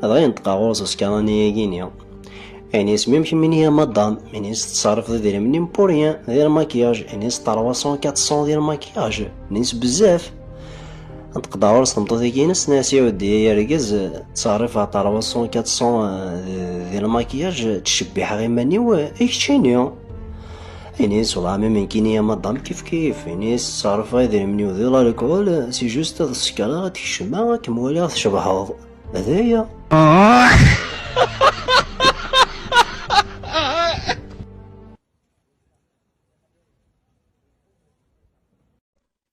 Dɣa yenṭeq-aɣ ɣur-s uskaṛani-agi-ni. Ini-s même que mini madame, ini-s tettṣerrifeḍ idrimen im pour rien, d irmakiyaž, ini-s 300 400 d irmakiyaž, ini-s bezzaf. Nṭeq-d ɣur-s tmeṭṭut-agi-ines, nni-as iɛuddi ay argaz, ttṣerrifeɣ 300 400 d irmakiyaž, ttcebbiḥeɣ iman-iw, i kečč ini. Ini sḍam imenkini a madam kif kif ini sserfa idrimen-iw di lalkul si just ad sekreɣ ad tkecmeɣ ad kem-waliɣ tcebḥeḍ d aya